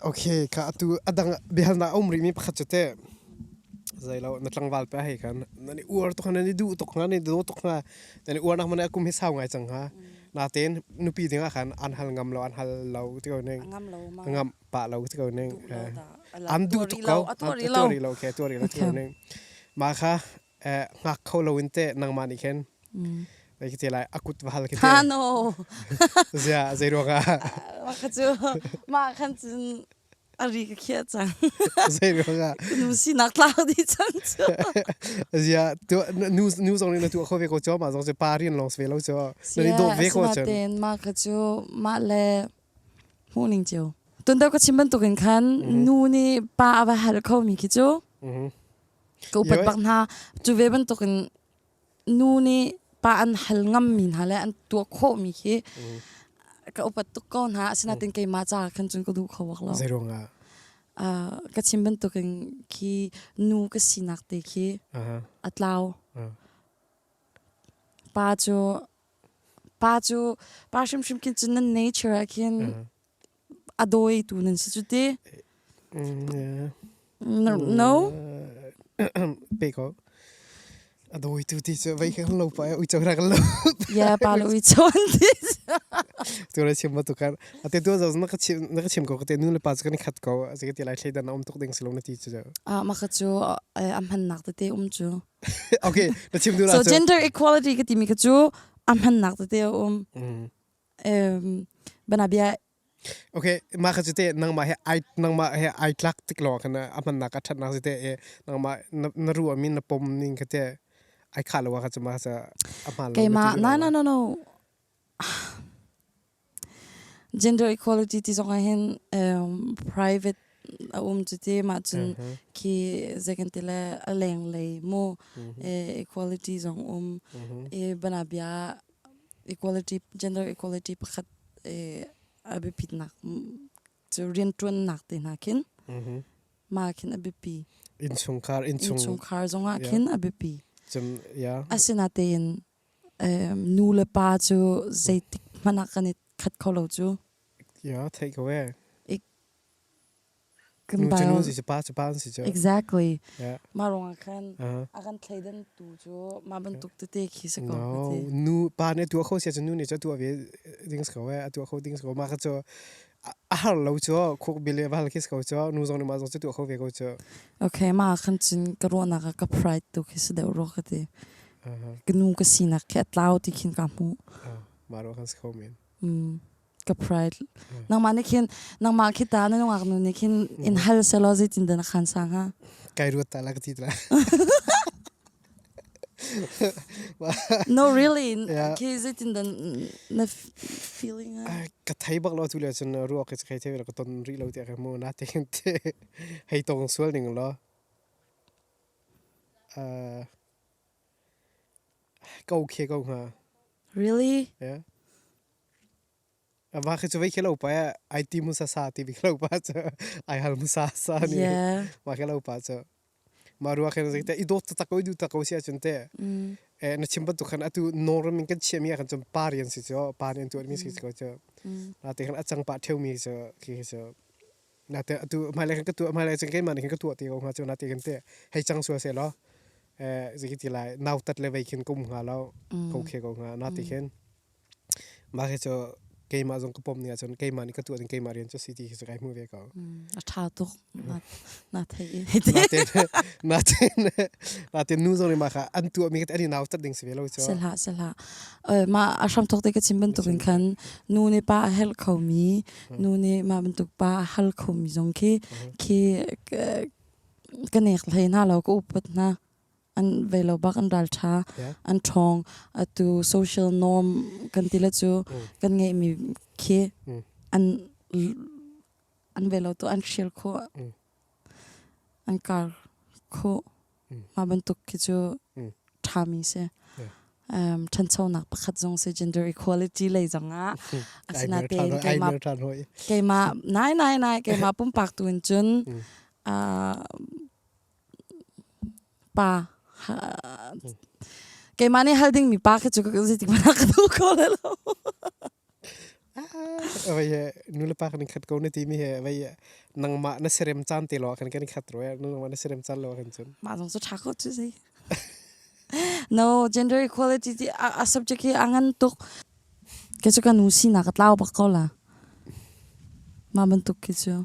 Okay, ka atu adang bihalna a um rimi pakhat cu te zei lo na tlangval pa hei kan na ni uar tuk na ni duh tuk na ni do tuk na na ni uar na mana akum hi sau ngai chang ha na ten nupi ding a khan an hal ngam lo an hal lo ti ko ning ngam lo ma ngam pa lo ti ko ning an duh tuk ko atuari lo ke atuari lo ti ko ning ma kha eh, ngak kho loin te nangmah nih khin Dai ka lai akut vahal ka ha no zia zei ruang ah mah ka cu mah khan cun ari ka khia cang zei ruang ah nu sinak tla di cang cu zia tu nu nu zong nih na tu kho ve ko cho ma zong se pa rin long ve lo cho na ni do ve ko chon ten ma ka cu ma le hu ning chiu tun da ko chim ban tu kin khan nu ni pa ava hal kho mi ki chu Ko pat bak hna cu ve bantuk in nu nih pa an hal ngam mi hna le an tuah khawh mi khi ka upat tuk ko hna asinain keimah ca khan cun ka duh kho bak lo zeirung ah ka chim bantuk in khi nu ka sinak te khi a tlau pa cu pa cu pa hrimhrim khin cu nan nature ah khin a dawitu nan si cu ti. No? Pe ko. A dawitu ti cu vai kan lo pa ui chong ra kan lo. Ie pa le ui chon ti. Tu le chim tu kar. A te tu zo na ka chim na ka chim ko ka te nu le pa kan khat ko a ke ti lai thei dan na um tuk ding silong na ti chu. Ah ma ka chu a man nak te te um chu. Okay, na chim tu na. So gender equality ka ti mi ka chu a man nak te um. Banabia Okay, mah kha cite nangmah he ai nangmah he ai tlak tik lawng khan amannak ka ṭhatnak cite e nangmah na ru ami na pom ning kha te ai kha lo kha chu ma sa ahma lo keima na na no no gender equality ti zong ah hin private a um chu te ma chun khi zekan tile aleng lei mo equality zong um e bana bia equality gender equality pakhat a biapitnak cu riantuannak te hna khin ma khin a biapi innchungkhar innchungkhar zongah khin a biapi asinatein nu le pa cu zeitik hmanh ah kan i khat kho lo cu yeah take away kan Nu General bang is pa cu pa an si cu. exactly Yeah. mah ruang ah khan Uh-huh. a kan thleidan tu cu mah bantuk tete khi sa ko No, ti nu pa nih a tuah kho sia cu nu nih cu a tuah ve dings ko eh a tuah kho dings ko mah kha cu a a har lo cu khuk bil le bal khis ko cu nu zong nih mah zong cu tuah kho ve ko cu okay mah ah khan cun ka ruahnak ah ka pride tu khi sa deuh rua ka ti Uh-huh. ka nu ka sinak khi a tlau ti khin ka hmu mah ro kan si kho men mm. ka pride nangmah ne khin nangmah khi ta na nungak nu ne khin in hal se lo zai tin na khan sa ha kai ruat ta la ka ti tra no really khi zai tin dan na feeling ha ka thai bak lo tu le chun ru ke kai the la ka ton ri lo te ka mo na te te hei tong sual ning lo uh kau khe kau ha really yeah Ama khi cu vei khelo pa e ai ti musa sa ti vi khelo pa cu ai hal musa sa ni Yeah. ma khelo pa cu ma rua khen zei te i dawt ta ko i du ta ko si ahcun te Mm. eh na chim bantuk khan atu nawr in kan chiah mi ah khan cun par yan si cu par in tuan mi si ko cu Mm. na te khan a cang pah theu mi cu khi hi cu na te atu hmai le khan ka tu hmai le cun keimah nih khin ka tuah ti ko hnga cu na te khan te hei cang sua se law eh zei ti lai nautat le vei khin kum hnga lo ko khe ko hnga na te khin Mah khi cu keimah zong ka pom ni ahcun keimah nih ka tuah ding keimah rian cu si ti khi cu kai hmu ve ko. A ṭha tuk. Na theih i natein natein natein nu zong nih mah kha an tuahmi khi an i nautat ding si ve lo cu. Si hlah, si hlah. Mah a hram thok te ka chim bantuk in khan nu nih pa a helh khomi, nu nih mah bantuk pa a hal khomi zong khi khi ka nek hlei hna lo, ka upat hna. an ve lo bak an ral ṭha an ṭhawng atu social norm kan ti le cu kan ngeih mi khi an an ve lo tu an hrial kho an kar kho ma bantuk khi cu ṭha mi si ṭhanchonak pakhat zong si gender equality lei zongah asinatein keimah keimah nai nai nai keimah pumpak tu in cun Pa keimah nih hal dingmi pa khi cu ka zeitik hmanh ah ka duh kho lai lo. Avei he nule pa kan i khat ko na timi he avei he nangmah na serem caan te lawng ah khan kan i khat rua eh. Nangmah na serem caan lawng ah khan cun. Mah zong cu ṭha khawh cu zei. No gender equality ti a subject hi a ngan tuk. Kei cu ka nu sinak a tlau bak ko la. Mah bantuk khi cu.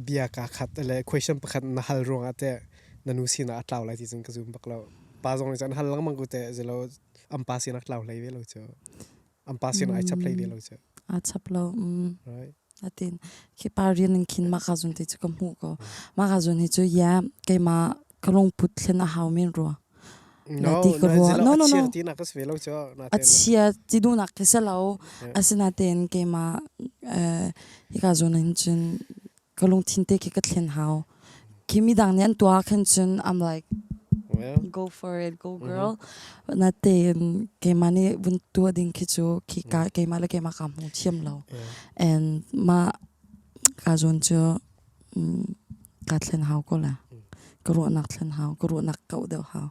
Bia kaa khat le question pakhat na hal ruangah teh na nu sinah a tlau lai ti cun ka zum bak lo. Pa zong nih cun an hal lengmang ko teh zelo an pa sinah tlau hlei ve lo cu. An pa sinah ai chap hlei ve lo cu. Aa chap lo. Right. Natin khi pa rian in khin maka zun ti cu ka hmuh ko. Maka zun hi cu yeah keimah ka lungput thlen a hau men rua na ti ka rua no no no ti na ka sve lo cho na ten achia ti du na ka se lo asina ten ke ma eh hika zo nan chin ka lung thin te ke ka thlen hau kimi dang ne an tua khan chin i'm like go for it go girl na ten ke ma ne bun tua ding khi chu khi ka ke ma le ke ma ka mu chiam lo and ma ka zon chu kaa thlen hau ko la. Ka ruahnak thlen hau, ka ruahnak kauh deuh hau.